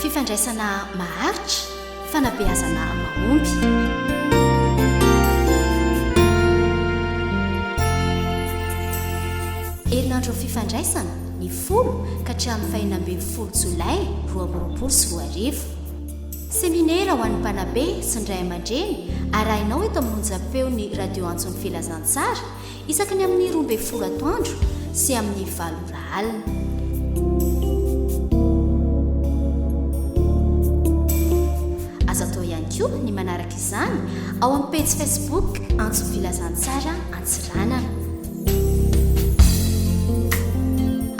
Fifandraisana maharitra, fanabeazana mahomby. Herinandro fifandraisana ny folo ka hatramin'ny fahena ambin'ny folo jolay roa amby roapolo sy roa arivo. Seminera ho an'ny mpanabe sy ny ray aman-dreny arahinao eto amin'ny onjam-peon'ny Radio Antson'ny Filazantsara isaky ny amin'ny roa ambin'ny folo atoandro sy amin'ny valo ora alina. Azo atao ihany koa ny manaraka izany ao amin'ny pejy Facebook Antson'ny Filazantsara Antsiranana.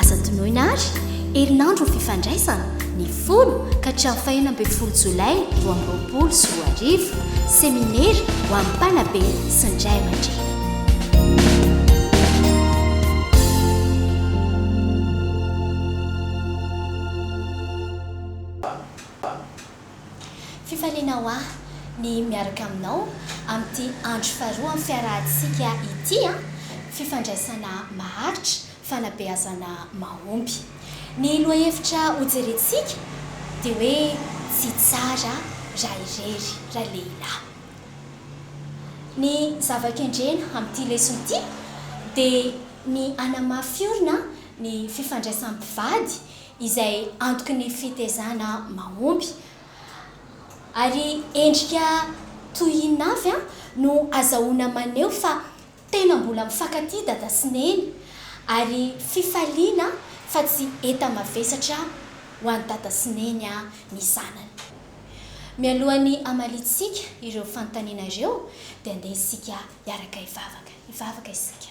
Aza adinoina àry, herinandron'ny fifandraisana, ny folo ka hatramin'ny fahenina ambin'ny folo jolay roa amby roapolo sy roa arivo, seminera ho an'ny mpanabe sy ny ray aman-dreny. Fifaliana ho ahy ny miaraka aminao amin'ity andro faharoa amin'ny fiarahantsika ity an! Fifandraisana maharitra, fanabeazana mahomby. Ny lohahevitra hojerentsika dia hoe tsy tsara raha irery raha lehilahy. Ny zava-kendrena amin'ity lesona ity dia ny hanamafy orina ny fifandraisan'ny mpivady izay antoky ny fitezana mahomby ary endrika toy inona avy no azahoana maneho fa tena mbola mifankatia dada sy neny ary fifaliana fa tsy enta-mavesatra ho an'i dada sy neny ny zanany? Mialohan'ny hamaliantsika ireo fanontaniana ireo dia andeha isika hiaraka hivavaka. Hivavaka isika.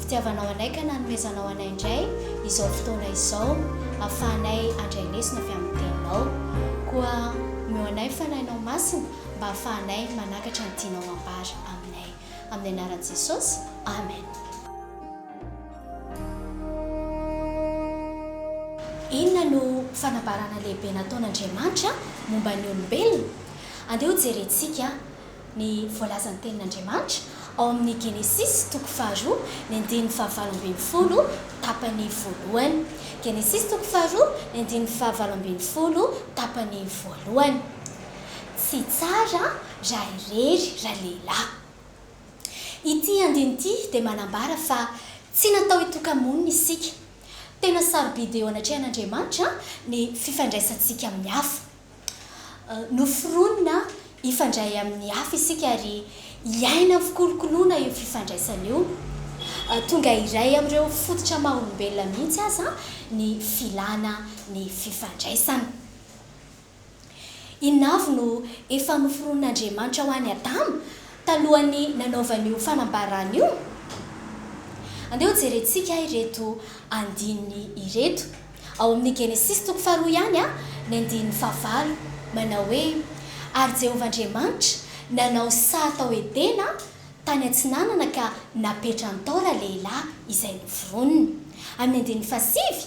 Fitiavanao anay ka nanomezanao anay indray izao fotoana izao ahafahanay handray lesona avy amin'ny Teninao. Koa omeo anay ny Fanahinao Masina mba hahafahanay manakatra ny tianao hambara aminay. Amin'ny anaran'i Jesosy, amen. Inona no fanambarana lehibe nataon'Andriamanitra momba ny olombelona? Andeha hojerentsika. Ny voalazan'ny Tenin'Andriamanitra ao amin'ny Genesisy toko faharoa ny andininy fahavalo ambin'ny folo tapany voalohany. Genesisy toko faharoa ny andininy fahavalo ambin'ny folo tapany voalohany. Tsy tsara raha irery ralehilahy. Ity andininy ity dia manambara fa tsy natao hitoka-monina isika. Tena sarobidy eo anatrehan'Andriamanitra ny fifandraisantsika amin'ny hafa. Noforonina hifandray amin'ny hafa isika ary hiaina amin'ny fikolokoloana io fifandraisana io. Tonga iray amin'ireo fototra maha olombelona mihitsy aza ny filana ny fifandraisana. Inona avy no efa noforonin'Andriamanitra ho an'i Adama talohan'ny nanaovany io fanambarana io? Andeha hojerentsika ireto andininy ireto. Ao amin'ny Genesisy toko faharoa ihany ny andininy fahavalo, manao hoe, Ary Jehovah Andriamanitra nanao saha tao Edena tany atsinanana ka napetrany tao ralehilahy izay noforoniny. Amin'ny andininy fahasivy,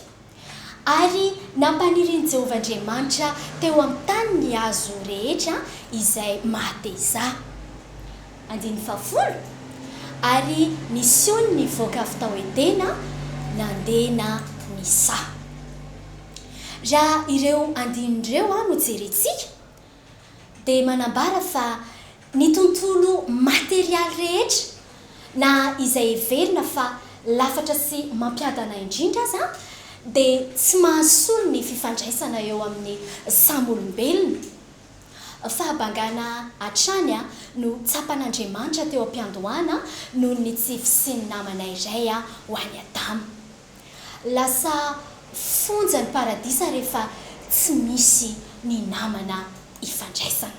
Ary nampanirin'i Jehovah Andriamanitra teo amin'ny tany ny hazo rehetra izay maha-tehizaha. Andininy fahafolo, Ary ny siony nivoaka avy tao Edena nandeha na nisaha. Raha ireo andininy ireo no jerentsika dia manambara fa ny tontolo materialy rehetra na izay heverina fa lafatra sy mampiadana indrindra aza dia tsy mahasolo ny fifandraisana eo amin'ny samy olombelona. Fahabangana hatrany no tsapan'Andriamanitra teo am-piandohana noho ny tsy fisian'ny namana iray ho an'i Adama. Lasa fonja ny paradisa rehefa tsy misy ny namana ifandraisana.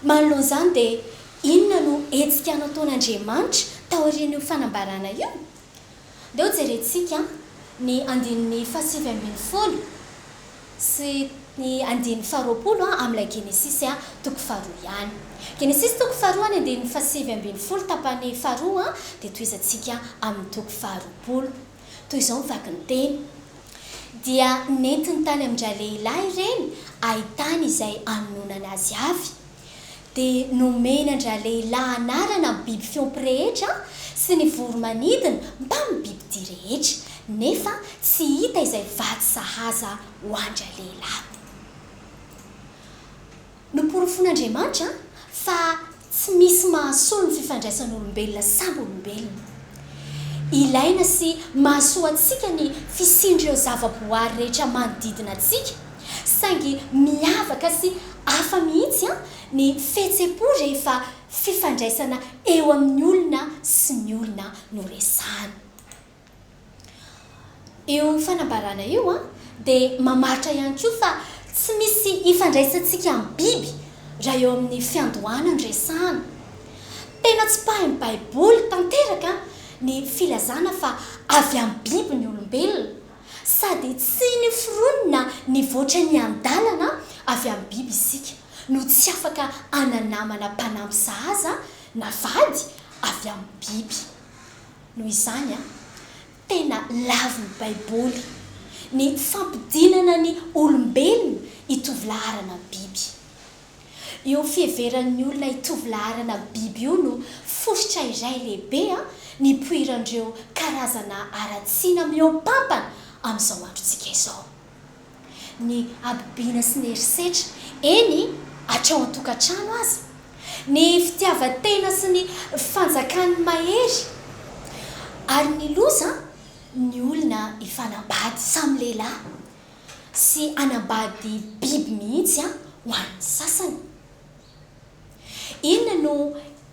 Manoloana izany dia inona no hetsika nataon'Andriamanitra taorian'io fanambarana io? Dia hojerentsika ny andininy fahasivy ambin'ny folo sy ny andininy faharoapolo amin'ilay Genesisy toko faharoa ihany. Genesisy toko faharoa ny andininy fahasivy ambin'ny folo tapany faharoa dia tohizantsika amin'ny toko faharoapolo. Toy izao ny vaky ny teny, Dia nentiny tany amin-dralehilahy ireny ahitany izay hanononana azy avy. Dia nomeny an-dRalehilahy anarana ny biby fiompy rehetra sy ny voro-manidina mbamin'ny bibidia rehetra, nefa tsy hita izay vatsy sahaza ho an-dRalehilahy. Noporofoin'Andriamanitra fa tsy misy mahasolo ny fifandraisan'olombelona samy olombelona. Ilaina sy mahasoa antsika ny fisian'ireo zavaboary rehetra manodidina antsika. Saingy miavaka sy hafa mihitsy ny fihetsem-po rehefa fifandraisana eo amin'ny olona sy ny olona no resahana. Io fanambarana io dia mamaritra ihany koa fa tsy misy ifandraisantsika amin'ny biby raha eo amin'ny fiandohana no resahana. Tena tsipahin'ny Baiboly tanteraka ny filazana fa avy amin'ny biby ny olombelona. Sady tsy noforonina nivoatra niandalana avy amin'ny biby isika no tsy afaka hananamana mpanampy sahaza na vady avy amin'ny biby. Noho izany, tena lavin'ny Baiboly ny fampidinana ny olombelona hitovy laharana amin'ny biby. Io fiheveran'ny olona hitovy laharana biby io no fositra iray lehibe nipoiran'ireo karazana haratsiana mihoampampana amin'izao androntsika izao. Ny habibiana sy ny herisetra, eny hatrao an-tokantrano aza, ny fitiavan-tena sy ny fanjakan'ny mahery, ary ny loza ny olona hifanambady samy lehilahy, sy hanambady biby mihitsy an ho an'ny sasany. Inona no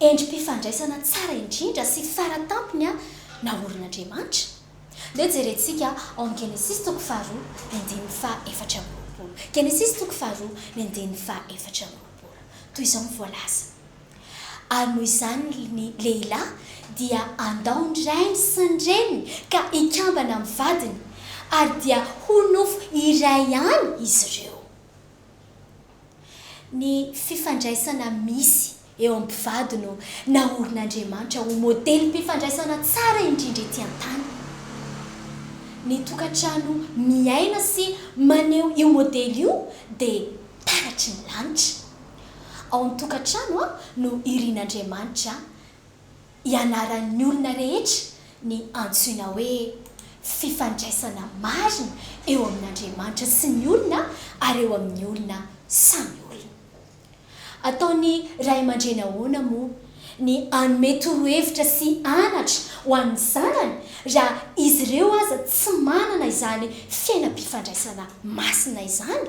endri-pifandraisana tsara indrindra sy fara tampony an naorin'Andriamanitra? Dia jerentsika ao amin'ny Genesisy toko faharoa ny andininy faha efatra amby roapolo. Genesisy toko faharoa ny andininy faha efatra amby roapolo. Toy izao no voalaza. Ary noho izany ny lehilahy dia handao ny rainy sy ny reniny ka hikambana amin'ny vadiny, ary dia ho nofo iray ihany izy ireo. Ny fifandraisana misy eo amin'ny mpivady no naorin'Andriamanitra ho modelim-pifandraisana tsara indrindra ety an-tany. Ny tokantrano miaina sy maneho io modely io dia taratry ny lanitra. Ao amin'ny tokantrano no irin'Andriamanitra ianaran'ny olona rehetra ny antsoina hoe fifandraisana marina eo amin'Andriamanitra sy ny olona ary eo amin'ny olona samy olona. Ataon'ny ray aman-dreny ahoana moa ny hanome torohevitra sy anatra ho an'ny zanany raha izy ireo aza tsy manana izany fiainam-pifandraisana masina izany?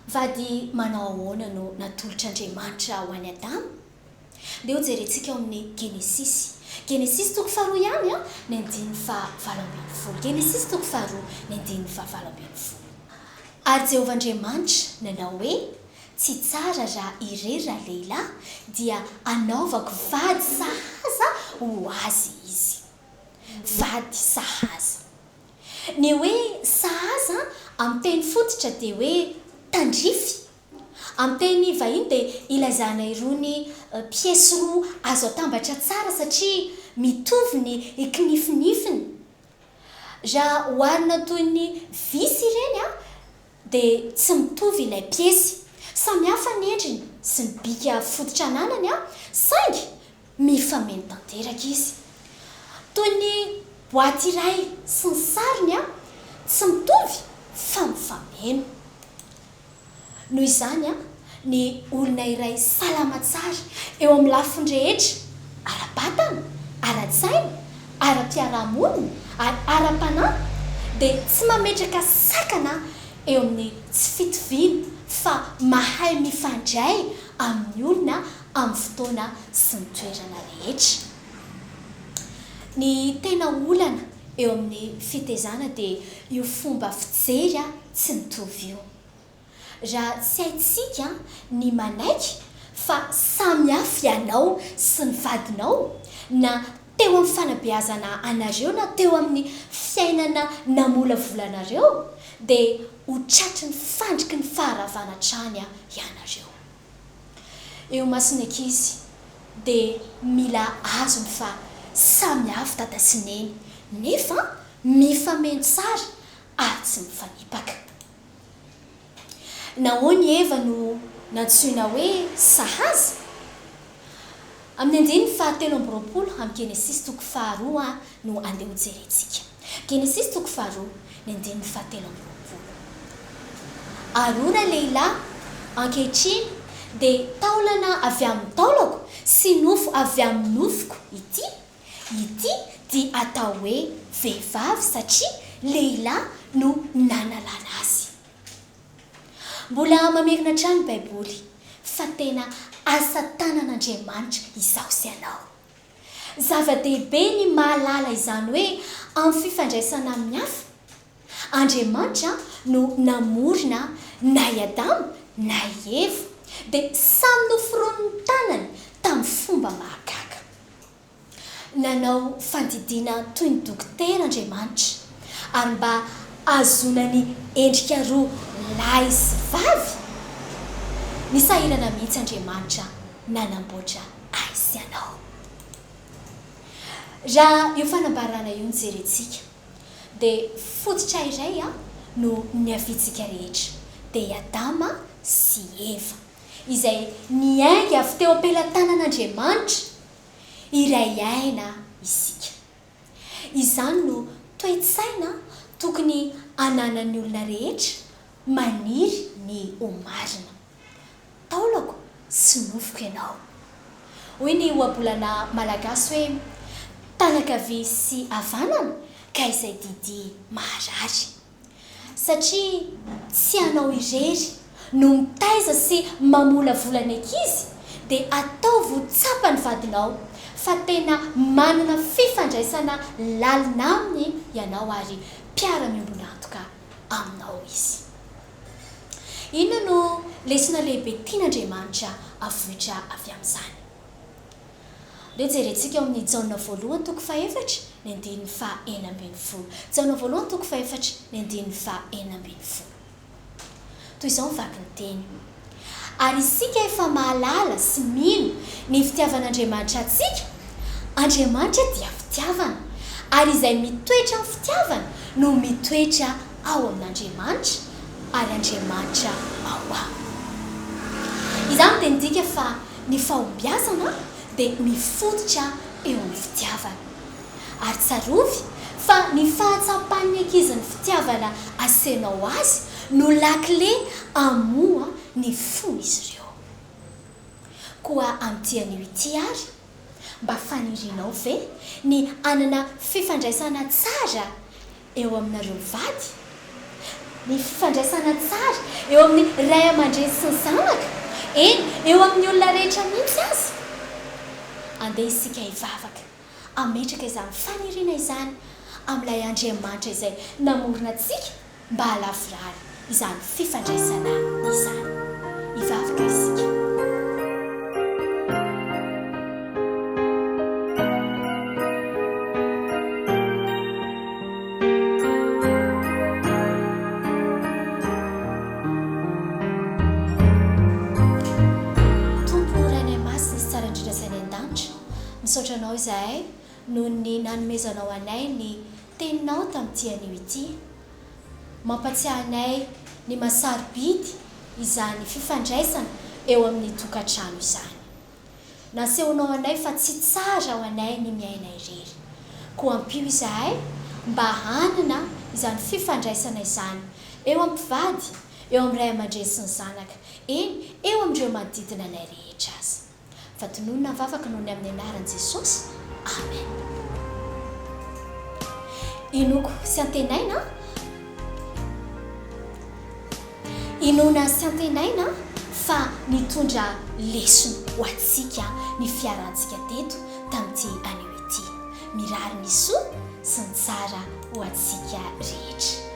Vady manao ahoana no natolotr'Andriamanitra ho an'i Adama? Ndeha hojerentsika ao amin'ny Genesisy. Genesisy toko faharoa ihany an, ny andininy fahavalo ambin'ny folo. Genesisy toko faharoa, ny andininy fahavalo ambin'ny folo. Ary Jehovah Andriamanitra nanao hoe, Tsy tsara raha irery ralehilahy, dia hanaovako vady sahaza ho azy izy. Vady sahaza. Ny hoe sahaza amin'ny teny fototra dia hoe tandrify. Amin'ny teny vahiny dia ilazana irony piesy roa azo atambatra tsara satria mitovy ny kinifinifiny. Raha oharina toy ny visy ireny dia tsy mitovy ilay piesy. Samy hafa ny endriny sy ny bika fototra ananany saingy mifameno tanteraka izy. Toy ny boaty iray sy ny sariny tsy mitovy fa mifameno. Noho izany ny olona iray salama tsara eo amin'ny lafiny rehetra, ara-batana, ara-tsaina, ara-piarahamonina, ary ara-panahy, dia tsy mametraka sakana eo amin'ny tsy fitoviana fa mahay mifandray amin'ny olona amin'ny fotoana sy ny toerana rehetra. Ny tena olana eo amin'ny fitezana dia io fomba fijery tsy mitovy io. Raha tsy haintsika ny manaiky fa samy hafa ianao sy ny vadinao, na teo amin'ny fanabeazana anareo na teo amin'ny fiainana namolavolanareo, dia ho tratry ny fandriky ny faharavana hatrany ianareo. Eo imason'ny ankizy dia mila azony fa samy hafa dada sy neny, nefa mifameno tsara ary tsy mifanipaka. Nahoana i Eva no nantsoina hoe sahaza? Amin'ny andininy fahatelo amby roapolo amin'ny Genesisy toko faharoa no andeha hojerentsika. Genesisy toko faharoa, ny andininy fahatelo amby roapolo. Ary hoy ralehilahy, Ankehitriny dia taolana avy amin'ny taolako sy nofo avy amin'ny nofoko ity. Ity dia atao hoe vehivavy satria lehilahy no nanalana azy. Mbola mamerina hatrany ny Baiboly fa tena asa tanan'Andriamanitra izaho sy ianao. Zava-dehibe ny mahalala izany hoe amin'ny fifandraisana amin'ny hafa. Andriamanitra no namorona na i Adama na i Eva, dia samy noforonin'ny tanany tamin'ny fomba mahagaga. Nanao fandidiana toy ny dokotera Andriamanitra, ary mba hahazoana ny endrika roa lahy sy vavy, nisahirana mihitsy Andriamanitra nanamboatra ahy sy anao. Raha io fanambarana io no jerentsika, Dia fototra iray no niaviantsika rehetra, dia i Adama sy i Eva, izay niainga avy teo am-pelatanan'Andriamanitra. Iray aina isika. Izany no toe-tsaina tokony hananan'ny olona rehetra maniry ny ho marina. Taolako sy nofiko ianao. Hoy ny ohabolana malagasy hoe, tany ankavia sy havanana ka izay didy maharary. Satria tsy ianao irery no mitaiza sy mamolavola ny ankizy dia ataovy ho tsapan'ny vadinao fa tena manana fifandraisana lalina aminy ianao ary mpiara-miombon'antoka aminao izy. Inona no lesona lehibe tian'Andriamanitra avoitra avy amin'izany? Dia jerentsika ao amin'ny Jaona voalohany toko fahefatra, ny andininy faha enina ambin'ny folo. Jaona voalohany toko fahefatra, ny andininy faha enina ambin'ny folo. Toy izao ny vakin'ny teny. Ary isika efa mahalala sy mino ny fitiavan'Andriamanitra antsika, Andriamanitra dia fitiavana, ary izay mitoetra amin'ny fitiavana no mitoetra ao amin'Andriamanitra, ary Andriamanitra ao aminy. Izany dia midika fa ny fahombiazana dia mifototra eo amin'ny fitiavana. Ary tsarovy fa ny fahatsapan'ny ankizy ny fitiavana asehoanao azy no lakile hamoha ny fon'izy ireo. Koa amin'ity anio ity àry, mba fanirianao ve ny hanana fifandraisana tsara eo aminareo mivady? Ny fifandraisana tsara eo amin'ny ray aman-dreny sy ny zanaka, eny, eo amin'ny olona rehetra mihitsy aza? Andeha isika hivavaka. hametraka izany faniriana izany amin'ilay Andriamanitra izay namorona antsika mba halavorary izany fifandraisana izany. Hivavaka isika. Misaotra anao izahay noho ny nanomezanao anay ny Teninao tamin'ity anio ity. Mampatsiahy anay ny maha sarobidy izany fifandraisana eo amin'ny tokantrano izany. Nasehonao anay fa tsy tsara ho anay ny miaina irery. Koa ampio izahay mba hanana izany fifandraisana izany eo amin'ny mpivady, eo amin'ny ray aman-dreny sy ny zanaka, eny, eo amin'ireo manodidina anay rehetra aza. Fa tononina ny vavaka noho ny amin'ny anaran'i Jesosy. Amen. Inoako sy antenaina. Inoana sy antenaina fa nitondra lesona ho antsika ny fiarantsika teto tamin'ity anio ity. Mirary ny soa sy ny tsara ho antsika rehetra.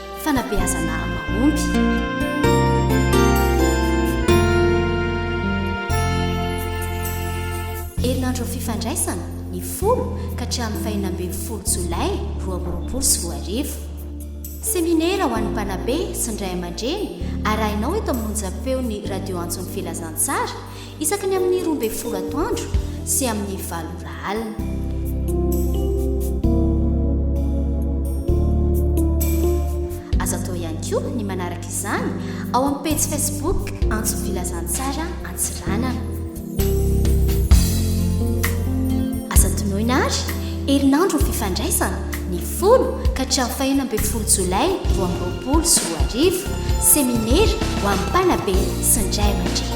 fanabeazana mahomby. herinandro fifandraisana ny folo ka hatramin'ny fahina ambin'ny folo jolay roa amby roapolo sy roa arivo seminera ho an'ny mpanabe sy ny ray aman-dreny arahinao eto amin'ny onjam-peon'ny radio antson'ny filazantsara Isaky ny amin'ny roa ambin'ny folo atoandro sy amin'ny valo ora alina. Azo atao ihany koa ny manaraka izany ao amin'ny pejy Facebook Antso Filazantsara Antsiranana. Aza tonoina ary herinandro ny fifandraisana. folo ka hatramin'ny fahena ambin'ny folo jolay roa amby roapolo sy roa arivo, seminera ho an'ny mpanabe sy ny ray aman-dreny.